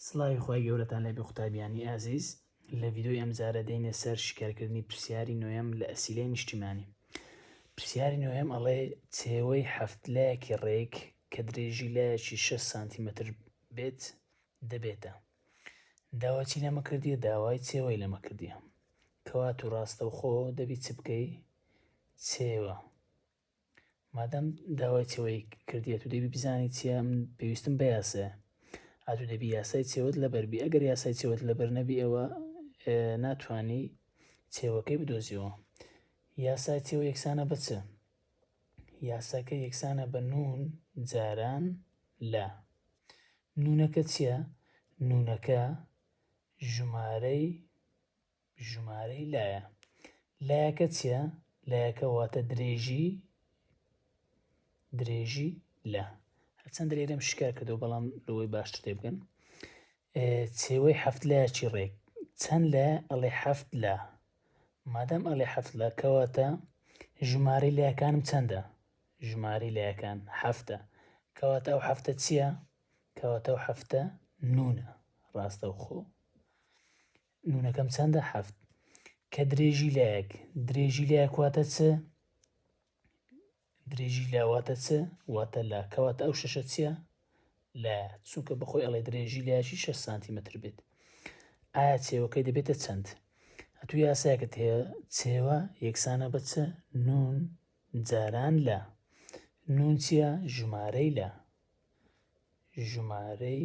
سڵاوی خوای گەورەتان لێ بێ قوتابیانی ئازیز لە ڤیدۆی ئەمجارە دێینە سەر شیکارکردنی پرسیاری نۆیەم لە ئەسیلەی نیشتیمانی پرسیاری نۆیەم ئەڵێ چێوەی هەفت لایەکی ڕێک کە درێژی لایەکی 6 سانتیمەتر بێت دەبێتە داواچی لەمە کردیە داوای چێوەی لەمە کردیە کەوات و ڕاستەوخۆ دەبی چ بکەی چێوە مادام داوای چەوەی کردی ئەتو دەبی بزانی چیە من پێویستم بە یاسایە ئەتو دەبی یاسای چێوەت لەبەربی ئەگەر یاسای چێوەت لەبەر نەبی ئەوە ناتانی چێوەکەی بدۆزیەوە یاسای چێوە یەکسانە بچە یاساکە یەکسانە بە نون جاران لە نونەکە چییە؟ نونەکە ژمارەی ژمارەی لایە لایەکە چیە؟ لایەکە واتە درێژی درێژی لە هەرچەند درێرم شکار کردو بەڵام لەوەی باشتر تێ بگەن چێوەی هەفت لایەکی ڕێک چەند لە ئەڵێ هەفت لە مادەم ئەڵێ هەفت لە کەواتە ژمارەی لایەکانم چەندە ژمارەی لایەکان هەفتە کەواتە ئەو هەفتە چییە کەواتە ئەو هەفتە نونە ڕاستەوخۆ نونەکەم چەندە حەفت کە درێژی لایەک درێژی لایەک واتە چ درێژی لاواتە چ واتە لا کەواتە ئەو شەشە چییە لە چونکە بەخۆی ئەڵێ درێژی لایشی 6 سانتیمەتر بێت ئایا چێوەکەی دەبێتە چەند ئەتو یاساکت هەیە چێوە یەکسانە بە چ نون جاران لە نون چییە ژمارەی لە ژمارەی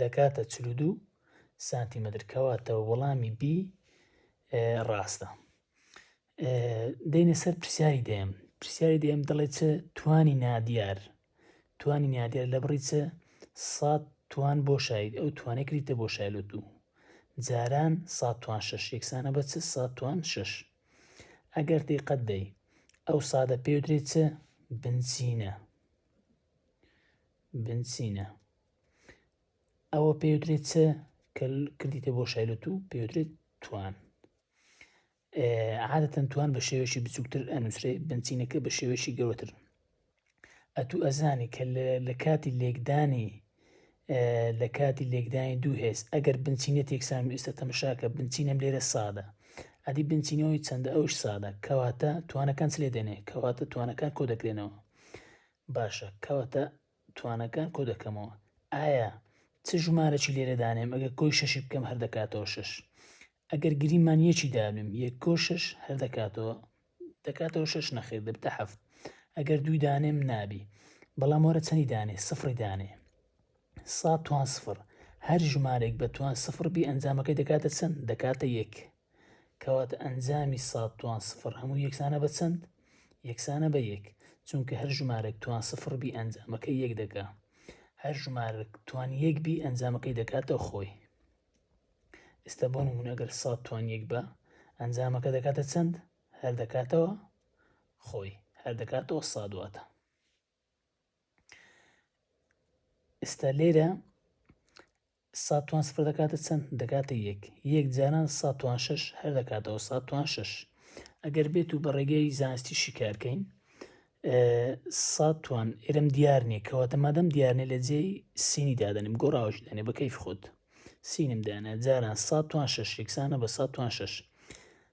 دەکاتە چل و دوو سانتیمەتر کەواتە وەڵامی بی ڕاستە دێنە سەر پرسیاری دێم پرسیاری دێم دەڵێت چ توانی نادیار توانی نادیار لە بڕی چ سات توان بۆ شاید ئەو توانێک کریتە بۆ شایلۆ دوو جاران سات توان شش یەکسانە بە چ سات توان شش ئەگەر دیقەت دەی ئەو سادە پێدرێت چ بنچینە بن سینا ئەوە پێوترێت چ کە کردیتە بۆ شایلۆت و پێوترێت توان عادەتەن توان بە شێوەشی بچووکتر ئەنووسێ بنچینەکە بە شێوەشی گەورەتر ئەتوو ئەزانی کە لە کاتی لێکدانی لە کاتی لێکدانی دوو هێز ئەگەر بنچینە تێکسان و ئێستا تەمەشاکە بنچینەم لێرە سادە ئەدی بنچینەوەی چەندە ئەوش سادە کەواتە توانەکان لێ دێنێ کەواتە توانەکان کۆ دەکرێنەوە باشە کەواتە توانەکان کۆ دەکەمەوە ئایا چ ژمارەی لێرە دانێم ئەگەر کۆی شەشی بکەم هەر دەکاتەوە شەش ئەگەر گریمان یەکی دابنێم یەک کۆ شەش هەر دەکاتەوە دەکاتەوە شەش نەخیر دەبتە هەفت ئەگەر دووی دانێم نابی بەڵام وەرە چەندی دانێ سفری دانێ سا توان سفر هەر ژمارێک بە توان سفر بی ئەنجامەکەی دەکاتە چەند دەکاتە یەک کەواتە ئەنجامی ساد توان سفر هەموو یەکسانە بە چەند یەکسانە بە یەک چونکە هەر ژمارەک توان سفر بی ئەنجامەکەی یەک دەکا هەر ژمارەک توان یەک بی ئەنجامەکەی دەکاتەوە خۆی ئێستا بۆ نمونە ئەگەر ساد توان یەک بە ئەنجامەکە دەکاتە چەند هەر دەکاتەوە خۆی هەر دەکاتەوە سادواتە ئێستا لێرە سا توان سفر دەکاتە چەند دەکاتە یەک یەک جاران سا توان شش هەر دەکاتەوە سا توان شش ئەگەر بێت و بە ڕێگەی زانستی شیکارکەین سا توان ئێرم دیار نییە کەواتە مادەم دیارنێ لە جێی سینی دادەنیم گۆڕاوش دەێ بە کەیف خۆت سینم دانا جاران سا توان شش یەکسانە بە سا توان شش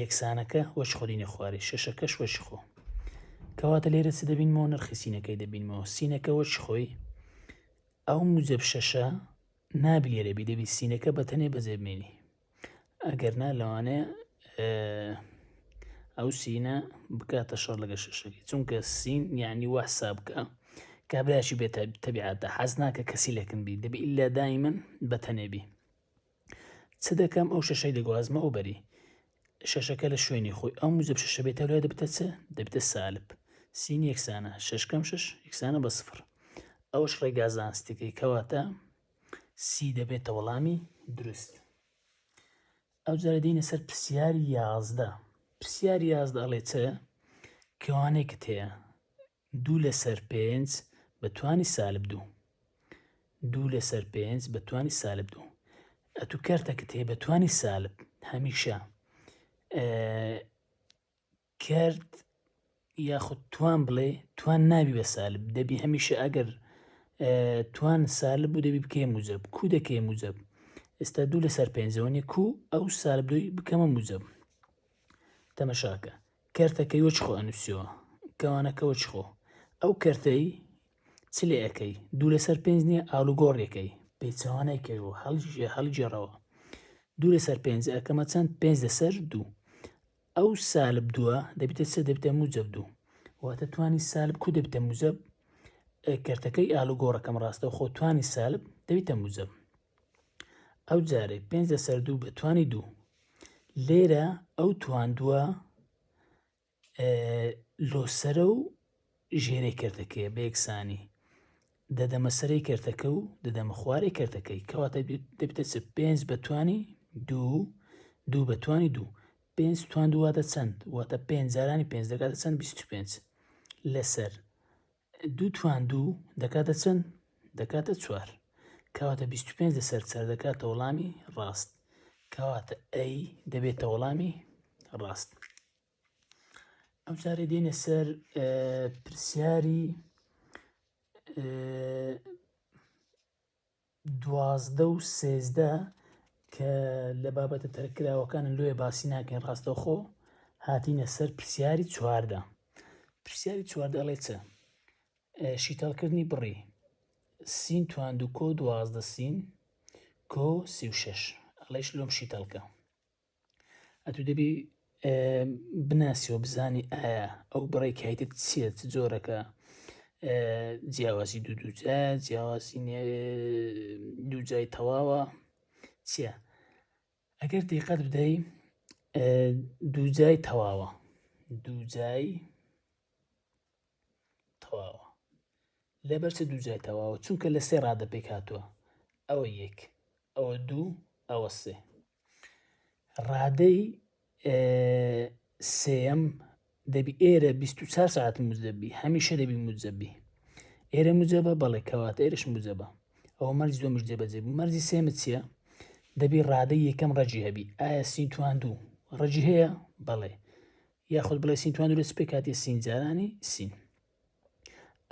یەکسانەکە وەچ خۆرینە خوارێ شەشەکەش وەچ خۆ کەواتە لێرە چ دەبینمەوە نرخی سینەکەی دەبینمەوە سینەکە وەچ خۆی ئەو موجب شەشە نابی لێرە بی دەبی سینەکە بە تەنێ بەزێبمێنی ئەگەر نا لەوانەیە ئەو سینە بکاتە شەڕ لەگە شەشەکەی چونکە سین یعنی وا حساب بکە کابراکی بێت تەبیعاتە حەز ناکە کەسی لەکن بی دەبی ئللا دایمن بە تەنێبی چ دەکەم ئەو شەشەی دەگوازمە ئەو بەری شەشەکە لە شوێنی خۆی ئەو موجب شەشە بێتە لای دەبتە چ دەبتە سالب سین یەکسانە شەشکەم شش یەکسانە بە سفر ئەوش ڕێگا زانستەکەی کەواتە سی دەبێتە وەڵامی دروست ئەو جارە دینە سەر پرسیاری یازدە پرسیاری یازدە ئەڵێ چ کەوانێکت هەیە دوو لەسەر پێنج بە توانی سالب دوو. دوو لەسەر پێنج بە توانی سالب دوو. ئەتو کەرتەکت هەیە بە توانی سالب هەمیشە کرد یاخود توان بڵێ توان ناوی بە سالب دەبی هەمیشە ئەگەر توان سالب بوو دەبی بکەی موجب کو دەکەی موجب ئێستا دوو لەسەر پێنجەوەنی کو ئەو سالب دوی بکەمە موجب تەمەشاکە کەرتە کەی وەچ خۆ ئەنووسیەوە کەوانە کە وەچ خۆ ئەو کەرتەی چ لێ ئەەکەی دوو لەسەر پێنج نییە ئالوگۆڕێکەی پێچوانەی کەی و هەڵژێ هەڵگێڕەوە دوو لەسەر پێنج ئەکەمە چەند پێنج لەسەر دوو ئەو سالب دووە دەبێتە سە دەبتە موجب دوو واتە توانی سالب کو دەبتە موزب کەرتەکەی ئالوگۆڕەکەم ڕاستە خۆ توانی سالب دەبیتە موزب ئەو جارێ پێنج لەسەر دوو بە توانی دوو لێرە ئەو تواندووە لۆسرە و ژێرەی کردەکەی بە یەکسانی دەدەمە سەری کردەکە و دەدەمە خوارێ کردەکەی کەواتە دەبتە چ پێنج بەتوانی دوو دوو بەتوانی دوو پێنج توان دوواتە چەند واتە پێنجارانی پێنج دەکاتە چەند 25 لەسەر دوو توان دوو دەکاتە چەند؟ دەکاتە چوار کەواتە بیست و پێنج لەسەر چار دەکاتە وەڵامی ڕاست کەواتە ئەی دەبێتە وەڵامی ڕاست ئەم جارێ دێنە سەر پرسیاری دوازدە و سێزدە کە لە بابەتە تەرکراوەکانە لۆیە باسی ناکەین ڕاستەوخۆ هاتینە سەر پرسیاری چواردە پرسیاری چواردە ئەڵێ چە شیتەڵکردنی بڕی سین تواند و کۆ دوازدە سین کۆ سی و شش ئەڵێش لۆم شیتەڵکە ئەتو دەبی بناسیەوە بزانی ئایا ئەو بڕی کایتت چیە چ جۆرەکە جیاوازی دوو دووجا جیاوازی دووجای تەواوە چیە ئەگەر دیقەت بدەی دووجای تەواوە دووجای تەواوە لەبەر چ دوو جای تەواوە چونکە لە سێ ڕادە پێک هاتووە ئەوە یەک ئەوە دوو ئەوە سێ ڕادەی سێم دەبی ئێرە 24 ساعت مزدەبی هەمیشە دەبی مزەبی ئێرە مجەبە بەڵێ کەواتە ئێرش مجەبە ئەوە مەرج دۆمش جێبەجێ مەرجی سێمە چییە دەبی ڕادە یەکەم ڕەجی هەبی ئایا سینتوان دوو ڕەجی هەیە بەڵێ یاخود بڵێ سین توان دروست پێ کاتی سین جارانی سین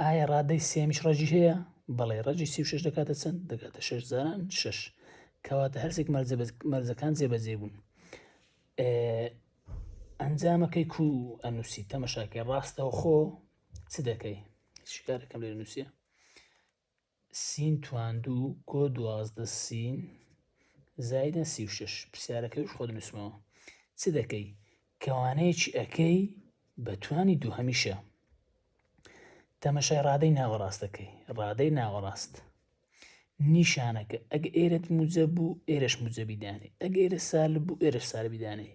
ئایا ڕادەی سێمیش ڕەجی هەیە بەڵێ ڕەجی سی شش دەکاتە چەند دەکاتە شش جاران شش کەواتە هەرسێک مەرزەکان جێبەجێ بوون ئەنجامەکەی کو ئەنووسی تەمەشاکەی ڕاستەوە خۆ چ دەکەی شکارەکەم لێ نووسە سین تواندوو کۆ دوازدە سین زایدە سی و شەش پرسیارەکەی وش خۆت نووسمەوە چ دەکەی کەوانەیەکی ئەەکەی بە توانی دوو هەمیشە تەمەشای ڕادەی ناوەڕاستەکەی ڕادەی ناوەڕاست نیشانەکە ئەگ ئێرت موجە بوو ئێرش موجەبیدانی ئەگ ئێرە سال بوو ئێرش سالبیدانی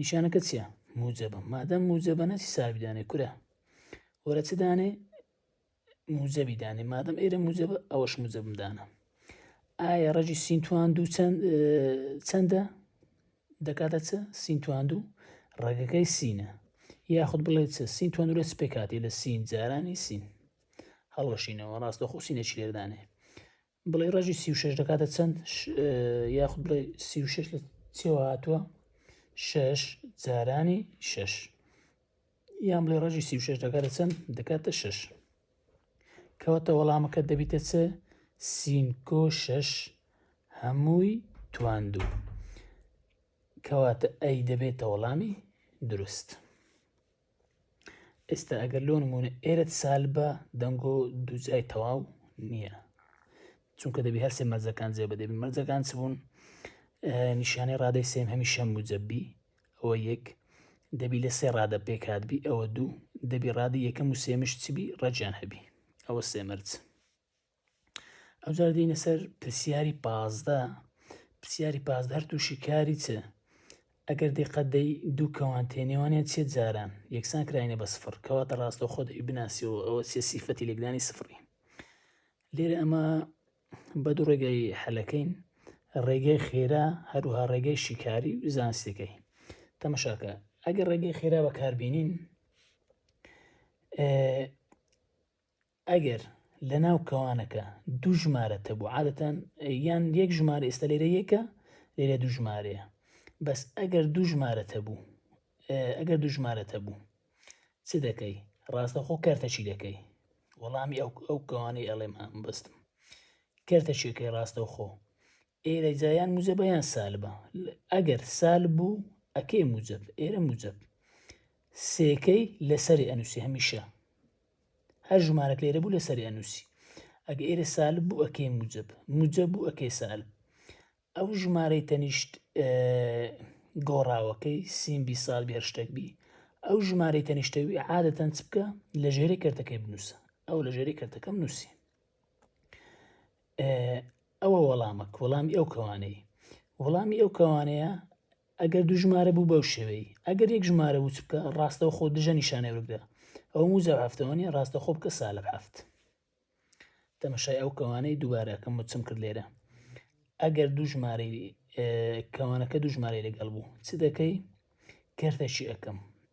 نیشانەکە چیە موجەبە مادەم موجەبە نەچی سابی دانێ کورە وەرە چ دانێ موجەبی دانێ مادەم ئێرە موجەبە ئەوەش موجەبم دانە ئایا ڕەژی سینتوان دوو چەند چەندە دەکاتە چ سینتوان دوو ڕێگەکەی سینە یاخود بڵێت چ سینتوان دوورە سپێکاتی لە سین جارانی سین هەڵۆشینەوە ڕاستەخۆ سینەچی لێدانێ بڵێ ڕژی سی شش دەکاتە چەند یاخود بڵێ سی شش لە چێوە هاتووە شش جارانی شش یان بڵێ ڕژی سی شش دەکاتە چەند دەکاتە شش کەواتە وەڵامەکە دەبیتە چ سینکۆ شش هەمووی تواندوو کەواتە ئەی دەبێتە وەڵامی دروست. ئێستا ئەگەر لۆ نمونە ئێرت سالبە دەنگۆ دووجای تەواو نییە چونکە دەبی هەرسێ مەرزەکان جێ بەدەبی مەرزەکان چ بوون نیشانەی ڕادەی سێم هەمی شەم موجەبی ئەوە یەک دەبی لە سێ ڕادە پێکاتبی ئەوە دوو دەبی ڕادی یەکەم و سێمش چبی ڕەجیان هەبی ئەوە سێمەرج ئەوجار دێینە سەر پرسیاری پازدە پرسیاری پازدە هەر تووشی کاری چ ئەگەر دقەت دەی دوو کەوان تێنێوانە چێ جاران یەکسان کراینە بە سفر کەواتە ڕاستە خۆ دەی بناسیەوە ئەوە چێ سیفەتی لێکدانی سفری لێرە ئەمە بە دوو ڕێگەی حەلەکەین ڕێگەی خێرا هەروها ڕێگەی شیکاری و زانستەکەی تەمەشاکە ئەگەر ڕێگەی خێرا بەکاربیێنین ئەگەر لە ناو کەوانەکە دوو ژمارە تەبوو عادەتەن یان یەک ژمارە ئێستا لێرە یەکە لێرە دوو ژمارەیە بەس ئەگەر دوو ژمارە تەبوو ئەگەر دوو ژمارە تەبوو چ دەکەی ڕاستەخۆ کەرتە چی دەکەی وەڵامی ئەو ئەو کەوانەی ئەڵێم بەستم کەرتە چێکەی ڕاستەوخۆ ئێرە جا یان موجەبە یان سالبە ئەگەر سالب بوو ئەکەی موجەب ئێرە موجەب سێکەی لەسەری ئەنووسی هەمیشە هەر ژمارەک لێرە بوو لەسەری ئەنووسی ئەگە ئێرە سالب بوو ئەکەی موجەب موجەب بوو ئەکەی سالب ئەو ژمارەی تەنیشت گۆڕاوەکەی سیمبی سال بێ شتێک بی ئەو ژمارەی تەنیشتەوی عادەتەن چ بکە لە ژێری کردەکەی بنووسە ئەو لە ژێری کردەکەم نووسی ئەوە وەڵامە وەڵامی ئەو کەوانەی وەڵامی ئەو کەوانەیە ئەگەر دوو ژمارە بوو بەو شێوەی ئەگەر یەک ژمارە وچ بکە ڕاستەو خۆ دژە نیشانە وردە ئەو موزە هەفتەوەنی ڕاستە خۆ بکە سالە هەفت تەمەشای ئەو کەوانەی دووبارەکەم وچم کرد لێرە ئەگەر دوو ژمارەی کەوانەکە دوو ژمارەی لەگەڵ بوو چ دەکەی کردەکی ئەەکەم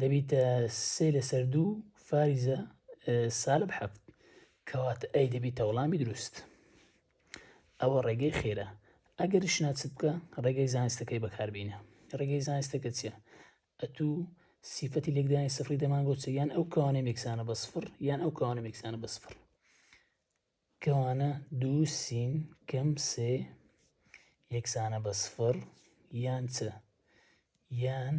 دەبیتە سێ لەسەر دوو فاریزە سالب حەفت کەواتە ئەی دەبیتە وەڵامی دروست ئەوە ڕێگەی خێرە ئەگەر شناچ بکە ڕێگەی زانستەکەی بەکاربینە ڕێگەی زانستەکە چیە ئەتوو سیفەتی لێکدانی سفری دەمان بۆچە یان ئەو کەوانە مێکسانە بە سفر یان ئەو کەوانە مێکسانە بە سفر کەوانە دوو سین کەم سێ یەکسانە بە سفڕ یان چ؟ یان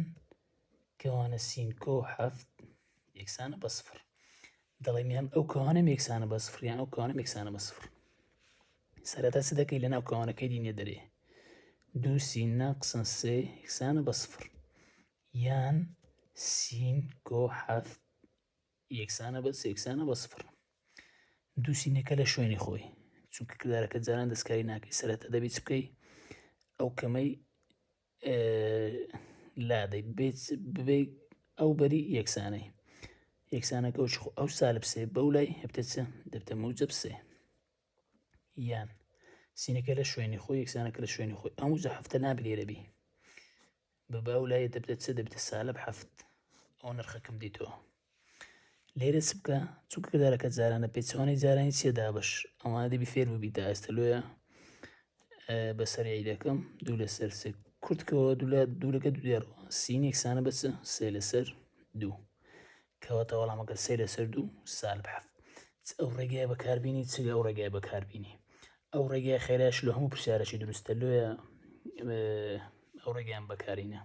کەوانە سین کۆ حەفت یەکسانە بە سفڕ دەڵێم یان ئەو کەوانە یەکسانە بە سفڕ یان ئەو کەوانە یەکسانە بە سفڕ سەرەتا چ دەکەی لەناو کەوانەکەی دینێ دەرێ دوو سین ناقسن سێ یەکسانە بە سفڕ یان سین کۆ حەفت یەکسانە بە یەکسانە بە سفر دوو سینەکە لە شوێنی خۆی چونکە کردارەکە جاران دەستکاری ناکەی سەرەتا دەبی چ بکەی ئەو کەمەی لادەی بێت ببێ ئەو بەری یەکسانەی یەکسانەکە و ئەو سالب سێ بەو لای هەبتە چ دەبتە موجب سێ یان سینەکە لە شوێنی خۆی یەکسانەکە لە شوێنی خۆی ئەم وجە هەفتە نابلێرەبی ببە و لای دەبدە چ دەبیتە سالب حەفت ئەو نرخە کەم دیتەوە لێرە چ بکە چونکە دارەکە جارانە پێچوانەی جارانی چێ دابش ئەوانە دەبی فێر ببی تا ئێستا لۆیە بەسەرعی دەکەم دوو لەسەر سێ کورتکەوە دوولە دوورەکە دوێڕەوە سینێکسانە بەچ سێ لەسەر دوو کەواتە وەڵامەکە سێ لەسەر دوو سالب حەفت چ ئەو ڕێگای بەکاربیینی چ ئەو ڕێگای بەکاربیینی ئەو ڕێگای خێراش لە هەموو پرسیارەشی دروستە لێە ئەو ڕێگەیان بەکارینە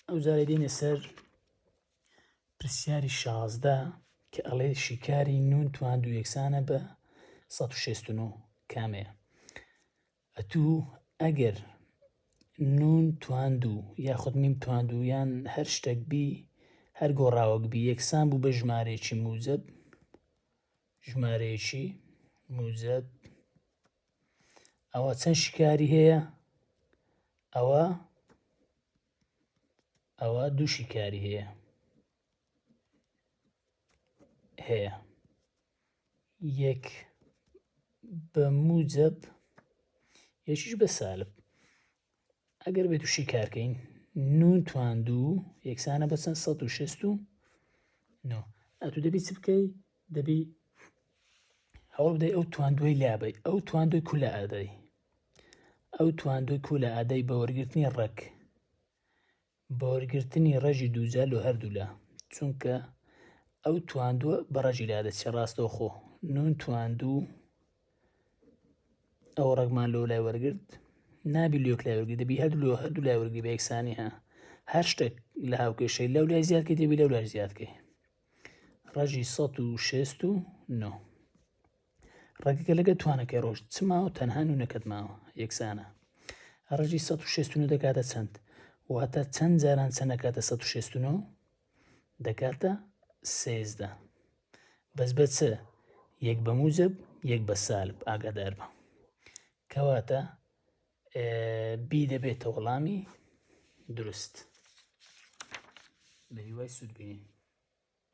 ئەو جارێ دێنە سەر پرسیاری شازدە کە ئەڵێ شیکاری نون توان دو یەکسانە بە 1669 کامەیە ئەتوو ئەگەر نون تواندوو یاخود میم تواندوو یان هەر شتەک بی هەر گۆڕاوەک بی یەکسان بوو بە ژمارەیەکی موجەب ژمارەیەکی موجەب ئەوە چەند شکاری هەیە ئەوە ئەوە دوو شکاری هەیە هەیە یەک بە موجب یەکیش بە سالب ئەگەر بێت تووشی کارکەین نون توان دوو یەکسانە بە چەند 16 و ئەتو دەبی چ بکەی دەبی هەوڵ بدەی ئەو تواندوی لابی ئەو تواندوی کولە ئادەی ئەو تواندوی کولە ئادەی بە وەرگرتنی ڕێک بەوەرگرتنی ڕەجی دووجا لۆ هەردوولا چونکە ئەو تواندوە بە ڕەجی لا دەچێ ڕاستەوخۆ نون تواندوو ئەو ڕەگمان لۆ لای وەرگرت نابی لۆک لای وەرگی دەبی هەردوو لۆ هەردوو لای وەرگی بە یەکسانی ها هەر شتێک لە هاوکێشەی لەو لای زیادکە دەبی لەو لای زیادکەی ڕەجی 16 و 9 ڕەگەکە لەگە توانەکەی ڕۆژ چماوە تەنها نونەکەت ماوە یەکسانە ڕژی 16 دەکاتە چەند واتە چەند جاران چەندەکاتە 16 دەکاتە سێزدە بەس بە چ یەک بە موجب یەک بە سالب ئاگادار بە کەواتە بی دەبێتە وەڵامی دروست بە هیوای سوودبینین